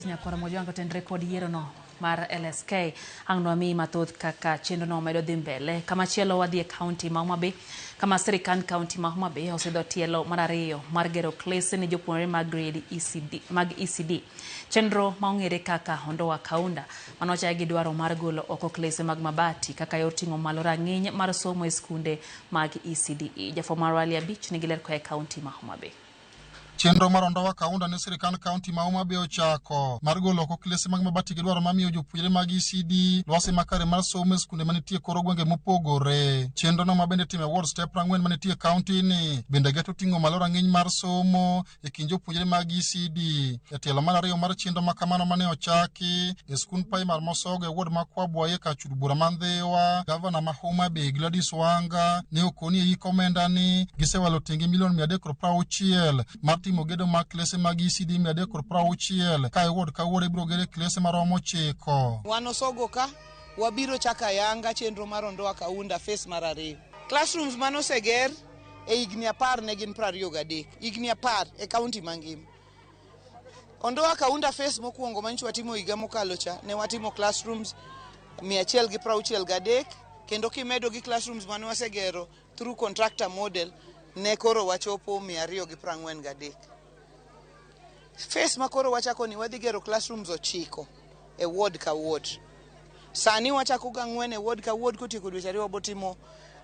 Nyakwaro Mojwanga to en rekod yierono mar LSK. Ang' nwamiyi mathoth kaka chenrono medo dhi mbele. Kama chielo wadhi e kaunti ma Homa Bay kama sirikand kaunti ma Homa Bay osidho tielo mar ariyo mar gero klese ne jopuonjre mag grade ECD, mag ECD. Chenro ma ong'ere kaka Ondoa Kaunda mane ochaye gi dwaro mar golo oko klese mag mabati kaka yor ting'o malo rang'iny mar somo e skunde mag ECDE. Jafwambo marwa Ali Abich nigi ler koa e kaunti ma Homa Bay. Chenro mar Ondowa Kaunda ne sirikand kaunti ma Homa Bay ochako mar golo oko klese mag mabati gidwaro ma miyo jopuonjre mag ECD lwasi makare mar somo e skunde manitie koro gwenge mopogore. Chenrono ma bende time ward step ang'wen manitie kaunti ni bende geto ting'o malo rang'iny mar somo e kind jopuonjre mag ECD. Jatelo mar ariyo mar chenro ma kamano mane ochaki e skund primar mosogo e wod ma Kwabwaye ka chud bura ma Ndhiwa, gavana ma Homa Bay Gladys Wanga ne okoni e yik omenda ni gisewalo tenge milion mia adek kod prauchiel mar timo gedo mag klese mag ECD mia adek kod prauchiel ka e wod ka wod ibiro gere klese maromo chiko. Wan osogo ka wabiro chaka yanga chenro mar Ondoa Kaunda fes mar ariyo. Classrooms mane oseger e higni apar ne gin prariyo gadek, higni apar e kaunti mangima. Ondoa Kaunda Phase mokwongo manyicho watimo higa mokalo cha ne watimo classrooms 163 kendo kimedo gi classrooms mane wasegero through contractor model ne koro wachopo 243. Phase ma koro wachako ni wadhi gero classrooms ochiko e ward ka ward. Sani wachako gang'wen e ward ka ward kotieko dweche ariyo wabotimo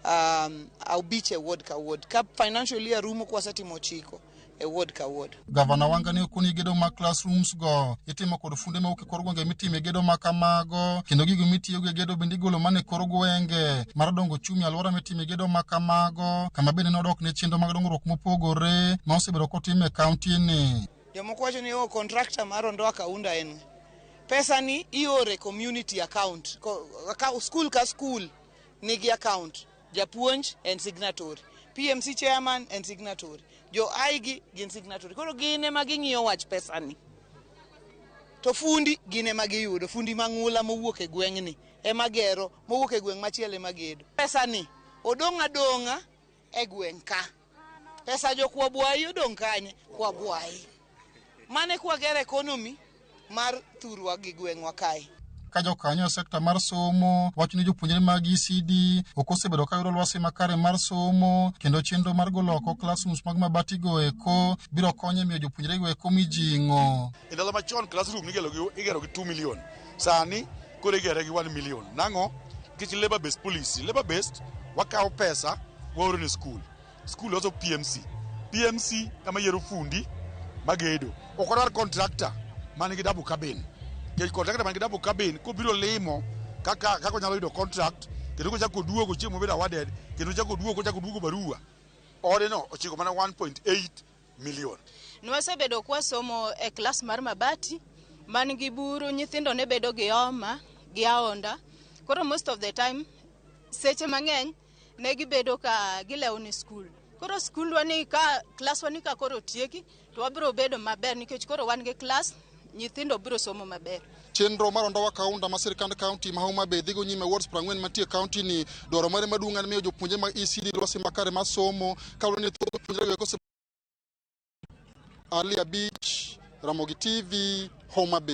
um, aubich e ward ka ward ka financial year rumo kwasetimo ochiko. e ward ka ward. Gavana Wanga ne okoni gedo mag classrooms go itimo kod funde mawuok e kor gwenge mitime gedo ma kamago kendo gigo mitiyogo e gedo bende igolo mana e kor gwenge mar dongo chumi alwora mitime gedo ma kamago kama bende nodok ne chenro mag dongruok mopogore ma osebedo kotim e kauntini. Jomoko wacho ni o oh, kontrakta mar Ondoa Kaunda en pesa ni iore community account, school ka school nigi account Japuonj en signatory, PMC chairman en signatory, jo aigi gin signatory. Koro gin ema ging'iyo wach pesani. To fundi gin ema giyudo, fundi mang'ula mowuok e gweng'ni ema gero, mowuok e gweng' machielo ema gedo. Pesani odong' adong'a e gweng' ka. Pesa jo kwabwayi odong' kanye? Kwabwayi. Mane kwagero economy mar thurwa gi gweng'wa kae. ka jokanyo e sekta mar somo wacho ni jopuonjre mag ECD ok osebedo ka yudo lwasi makare mar somo kendo chenro mar golo oko classrooms mag mabatigo eko biro konyo e miyo jopuonjrego eko mijing'o. E ndalo machon classroom nigero gi, igero gi 2 million. Sani Koro igere gi 1 million. Nang'o? Nikech labor based policy. Labor based wakawo pesa waoro ne skul. Skul loso PMC. PMC ema yiero fundi magedo. Ok wadwar contractor man gi double cabin. Nikech contractor man gi double cabin kobiro limo kaka kaka onyalo yudo contract kendo kochako oduogo chieng' mobedo awarded kendo ochako oduogo kochako oduogo barua. Odeno ochiko mana 1.8 million. Nwasebedo kwasomo e klas mar mabati man gi buru, nyithindo ne bedo gi homa gi aonda. Koro most of the time seche mang'eny ne gibedo ka gilewo ni skul. Koro skundwa ni ka klaswa ni ka koro otieki to wabiro bedo maber nikech koro wan gi klas. nyithindo biro somo maber. Chenro mar Ondowa Kaunda ma sirkand kaunti ma Homa Bay dhigo nyime wards prang'wen mantie kaunti ni dwaro mare maduong' en miyo jopuonjre mag ECD lwasi makare mar somo kaluwore ni thoth jopuonjre weko Ali Abich, Ramogi TV, Homa Bay.